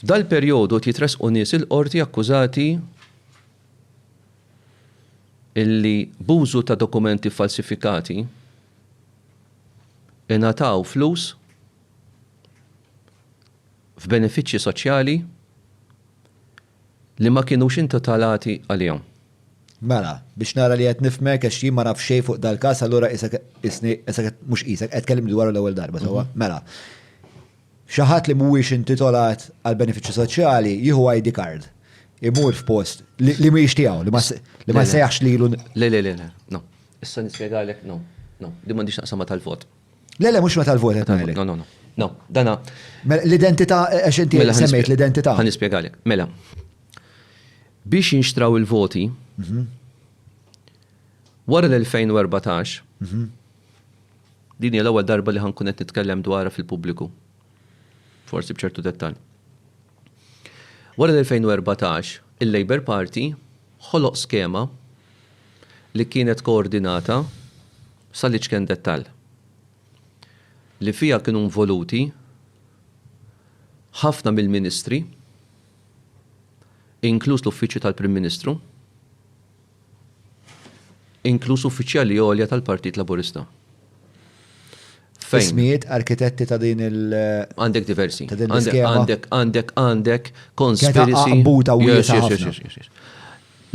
F'dal-perjodu qed jitressqu nies il-Qorti akkużati illi b'użu ta' dokumenti ffalsifikati ingħataw flus f'benefiċċji soċjali li ma kienux intitolati għalihom. Mela, biex nara li qed nifhmek għax jien ma naf xejn fuq dal-każ allura qisek qisni qisek qed mhux qisek qed tkellimni dwaru l-ewwel darba sewwa. Mela. Xi ħadd li mhuwiex intitolat għal benefiċċji soċjali jieħu ID card, imur f'post li mhijiex tiegħu, li ma jsejjaħx lilu. Le, le, le, no. Issa nispjegalek, no, no, din m'għandix taqsam ma' tal-vot. Le, le, mhux ma' tal-vot qed ngħidlek. No, no, no. No, dana. Mela, l-identità, għax inti mela, semmejt l-identità. Ħa nispjegalek. Mela, biex jinxtraw il-voti, mhm. wara l-2014, mhm. Din hija l-ewwel darba li ħa nkun qed nitkellem dwarha fil-pubbliku. Forsi b'ċertu dettall. Wara l-2014, il-Labour Party ħoloq skema li kienet koordinata sal-iċken dettall, li fiha kienu involuti ħafna mill-ministri, inkluż l-Uffiċċju tal-Prim Ministru, inkluż uffiċjali għolja tal-Partit Laburista. Ismijiet arkitetti ta' din il. Għandek diversi. Ta' din l-iskema. Għandek, għandek, għandek, conspiracy. Għambuta u yes, yes, yes, yes, yes.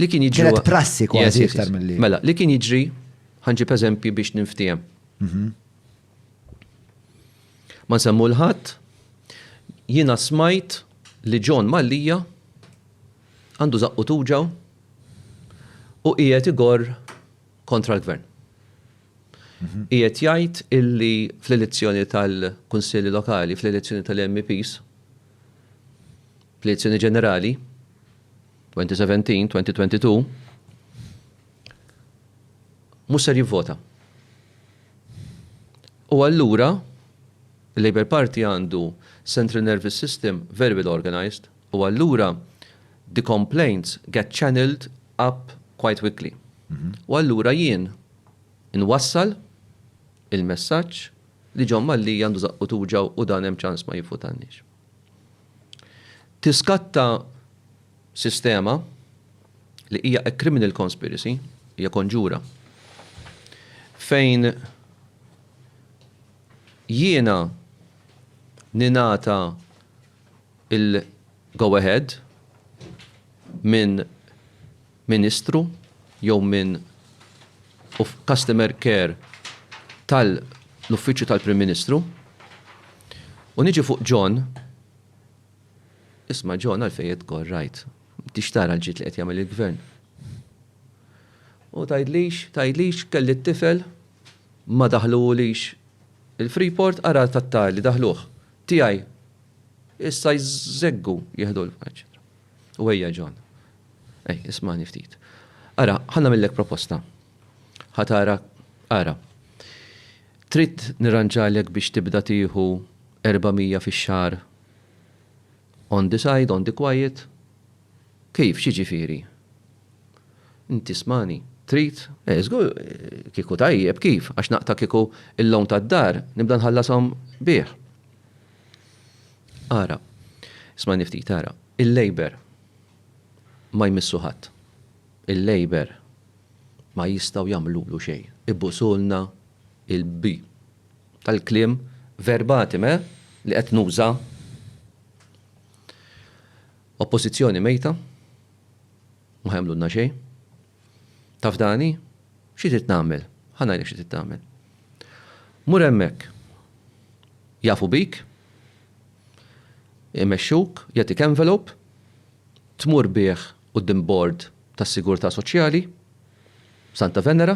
Li kien jiġri. Kienet prassi kważi iktar mill-li. Mela, li kien jiġri, ħanġib eżempji biex ninftijem. Mhm. Ma nsemmu l-ħadd, jina smajt li John Mallija għandu zaqqu tuġaw u qiegħed igorr kontra l-Gvern. Qiegħed jgħid illi fl-elezzjoni tal-Kunsilli Lokali, fl-elezzjoni tal-MEPs, fl-elezzjoni ġenerali, 2017, 2022, mhux ser jivvota. U allura, il-Labour Party għandu central nervous system very well organized, U allura the complaints get channelled up quite quickly. U allura jien inwassal il-messaġġ li John Mallia għandu żaqqu tuġgħu u dan hemm ċans ma jivvutanniex. Tiskatta sistema li hija a criminal conspiracy, hija konġura, fejn jiena ningħata il-go ahead minn Ministru jew minn Customer Care tal-Uffiċċju tal-Prim Ministru u niġi fuq John, isma' John għalfejn qed tgorr għajt? M'intix tara l-ġid li qed jagħmel il-Gvern? U tgħidlix, tgħidlix kelli t-tifel ma daħluhulix il-Freeport ara tat-tar li daħluh. Tiegħi. Issa jżeggu jieħdu l eċċetera. U ejja John. Ej, ismani ftit. Ara, ħanna millek proposta. Ħatara, ara. Trid nirranġalek biex tibda tieħu 400 fix-xahar on the side, on the quiet, Kif, x'jiġifieri? Int tismagħni? Trid? Eh, żgur kieku tajjeb, kif? Għax naqta' kieku l-loan tad-dar nibda nħallashom bih. Ara, ismagħni ftit, ara, il-Labour ma jmissu ħadd. Il-Labour ma jistgħu jagħmlulu xejn. Ibusulna l-bi. Tal-kliem verbatim, eh, li qed nuża. Oppożizzjoni mejta, ma ħa jagħmlulna xejn. Taf Dani? Xi trid nagħmel? Ħa ngħidlek xi trid tagħmel. Mur hemmhekk. Jafu bik, imexxuk, jagħtik envelope, tmur bih quddiem bord tas-sigurtà soċjali, Santa Venera,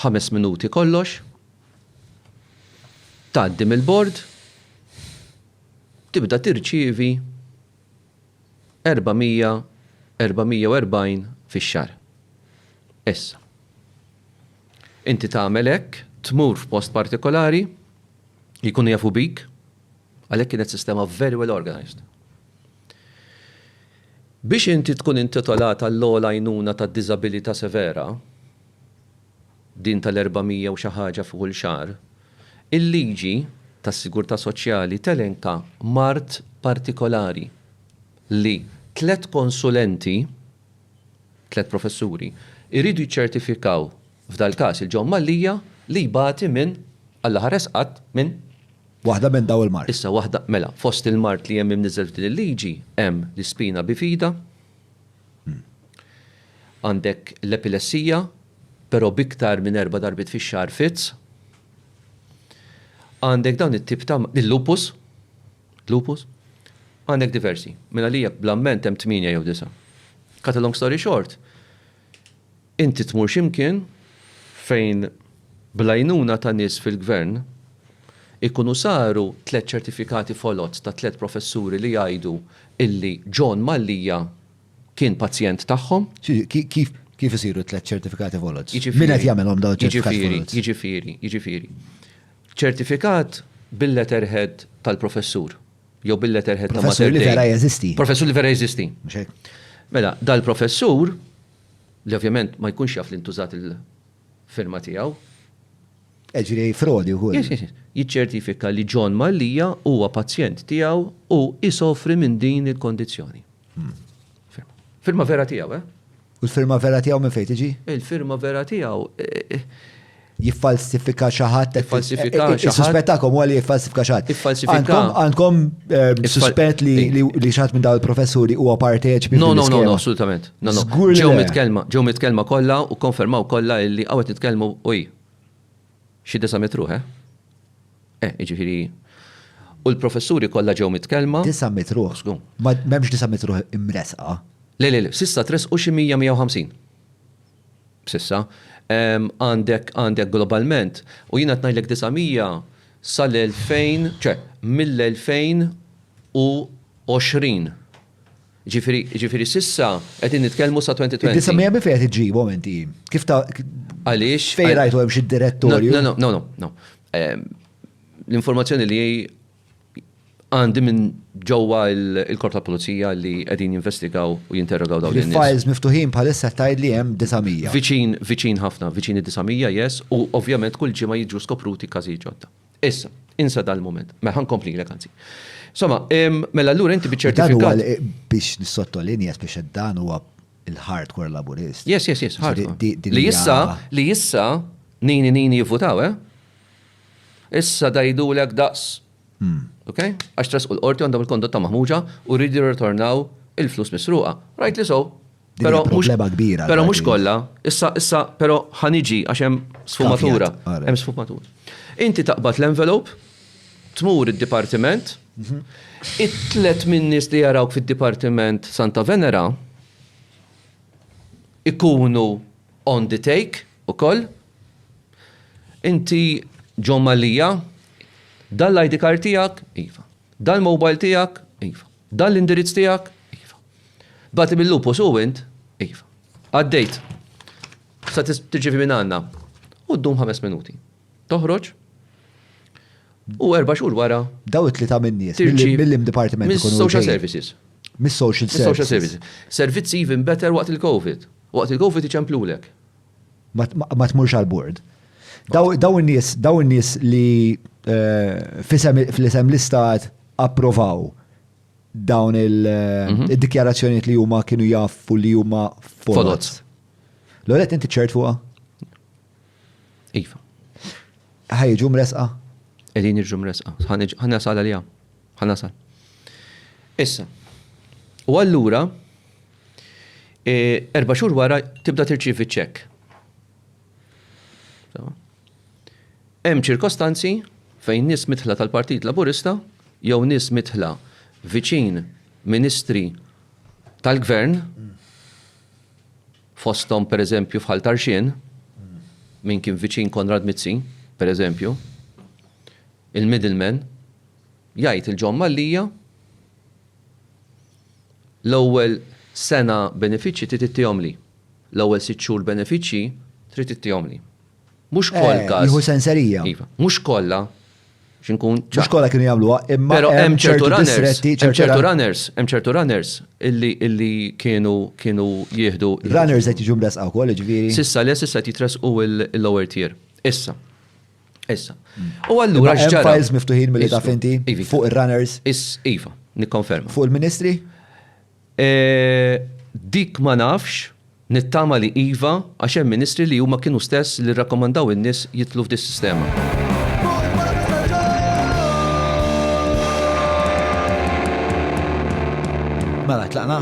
ħames minuti kollox, tgħaddi mill-bord, tibda tirċievi 400, 440 fix-xahar. Issa, inti tagħmel hekk, tmur f'post partikolari, jkunu jafu bik, għalhekk kienet sistema very well organized. Biex inti tkun intitolat għall-ogħla għajnuna tad-diżabilità severa, din tal-400 u xi ħaġa f'kull xahar, il-liġi tas-sigurtà soċjali telenka mard partikolari li tliet konsulenti, tliet professuri, iridu jiċċertifikaw f'dal-każ il-John Mallia li jbati minn, Alla ħares qatt, minn? Waħda minn dawn il-mard. Issa waħda, mela, fost il-mard li hemm imniżżel f'din il-liġi hemm l-ispina bifida, Għandek l-epilessija, però b'iktar minn erba' darbiet fix-xahar fits. Għandek dawn it-tip ta' il-lupus, lupus. Għandek diversi. Mela li jekk bl-amment hemm tmienja jew disa'. Cut a long story short, inti tmur xi mkien fejn bl-għajnuna ta' nies fil-Gvern ikunu saru tliet ċertifikati foloz ta' tliet professuri li jgħidu illi John Mallia kien pazjent tagħhom. Kif isiru t-tliet ċertifikati volots? Min qed jagħmilhom dawn iċ-ċertifikati volots? Jiġifieri, jiġifieri, jiġifieri. Ċertifikat bil-letterhead tal-professur jew bil-letterhead ta' Mater Dei. Professur li vera jeżisti. Professur li vera jeżisti. Mhux hekk? Mela, dal-professur, li ovvjament ma jkunx jaf li ntużat il-firma tiegħu, Jiġri frodi wkoll. Yes, yes, yes. Jiċċertifika li John Mallia huwa pazjent tiegħu u jsofri minn din il-kondizzjoni. Firma. Firma vera tiegħu, eh? U l-firma vera tiegħu minn fejn tiġi? Il-firma vera tiegħu eh, eh, jiffalsifika xi ħadd Jiffalsifika xi ħadd. Suspettakkom huwa li jiffalsifika xi ħadd. Iffalsifika. Għandkom- Għandkom eh, Iffal- suspett li li li xi ħadd minn dawn il-professuri huwa parteċipi No, no, no, no, fil-iskema. assolutament. No, no. Żgur li Ġew le. mitkellma, ġew mitkellma kollha u konfermaw kollha illi hawn qed nitkellmu uj. Xi disa' mitt ruħ, eh? Eh, jiġifieri. U l-professuri kollha ġew mitkellma. Disa' mitt ruħ? Żgur. M'hemmx disa' mitt ruħ imressqa? Le, le, le, s'issa tressqu xi mija, mija u ħamsin. S'issa. Għandek, għandek globalment, u jiena qed ngħidlek disa' mija sal-elfejn, ċe, mill-elfejn u għoxrin. Ġifieri, ġifieri s'issa qegħdin nitkellmu sa 2020. Id-disa' mija minn fejn qed iġġibhom inti? Kif ta' Għaliex? Fejn rajtu hemm xi direttorju? No, no, no, no, no. L-informazzjoni li għandi minn ġewwa l-Korp tal-Pulizija li qegħdin jinvestigaw u jinterrogaw dawn in-nies. Files miftuħin bħalissa tgħidli hemm disa' mija. Viċin, viċin ħafna, viċin id-disa' mija, yes, u ovvjament kull ġimgħa jiġu skopruti każijiet ġodda. Issa, insa dal-mument. Mela, ħa nkomplilek anzi. Insomma, mela allura inti biċ-ċertifikat. Dan huwa biex nissottolinja biex dan huwa il-hardcore laburist. Yes, yes, yes, hardcore. Li issa, li issa, nini nini jivvutaw, eh? Issa dajdu l daqs. Hmm. Ok? Għax tras u l-qorti għandhom il-kondotta maħmuġa u rridu jirritornaw il-flus misruqa. Right li so, Pero mhux kbira. Pero mhux kollha, issa issa pero ħaniġi għax hemm sfumatura. Hemm sfumatura. Inti taqbad l-envelope, tmur id-dipartiment, mhm. it-tlet minnis li jarawk fid-dipartiment Santa Venera ikunu on the take u koll. Inti ġomma lija, dal-ID card tijak, iva. Dal-mobile tijak, iva. Dan l-indirizz tiegħek? Iva. Bagħatli mill-Lupus u int? Iva. Għaddejt. Sa tirċievi minn għandna. U ddum ħames minuti. Toħroġ u erba' xhur wara. Daw it-tlieta min-nies mill-im dipartiment. Mis-social services. Mis-social services. Servizzi even better waqt il-COVID. Waqt il-COVID iċemplulek. ma tmurx għal bord. Daw in-nies, daw in-nies li eh, fl-isem l-istat approvaw dawn mhm. il-dikjarazzjoniet li huma kienu jaffu li huma foloz. L-għolet inti ċert fuqa? Iva. ġum resqa? Edin irġum resqa. Ħanna sal għalija. Ħanna sal. Issa. U allura, Erba' xhur wara tibda tirċievi ċ-ċekk. Hemm ċirkostanzi fejn nies midħla tal-Partit Laburista jew nies midħla viċin ministri tal-Gvern, fosthom pereżempju f'Ħal Tarxien, min kien viċin Konrad Mizzi, pereżempju, il-middleman, jgħid il-John Mallia L-ewwel sena benefiċċji trid ittihomli. L-ewwel sitt xhur benefiċċji trid ittihomli. Mhux koll każ. Nieħu senserija. Iva. Mhux kollha, biex inkun ċar. Mhux kollha kienu jagħmluha, imma. Però hemm ċertu runners. Hemm ċertu runners. Hemm ċertu runners illi kienu jieħdu. Runners qed jiġu mressqa wkoll, jiġifieri. S'issa le, s'issa qed jitressqu l-lower tier. Issa. Issa. U allura x'ġara? Files miftuħin mill taf inti iva. fuq ir-runners. Is iva, nikkonferma. Fuq il-ministri? E, dik ma nafx, nittama li iva għax hemm ministri li huma kienu stess li rrakkomandaw in-nies jitlu f'dis sistema. Mela, tlaqna?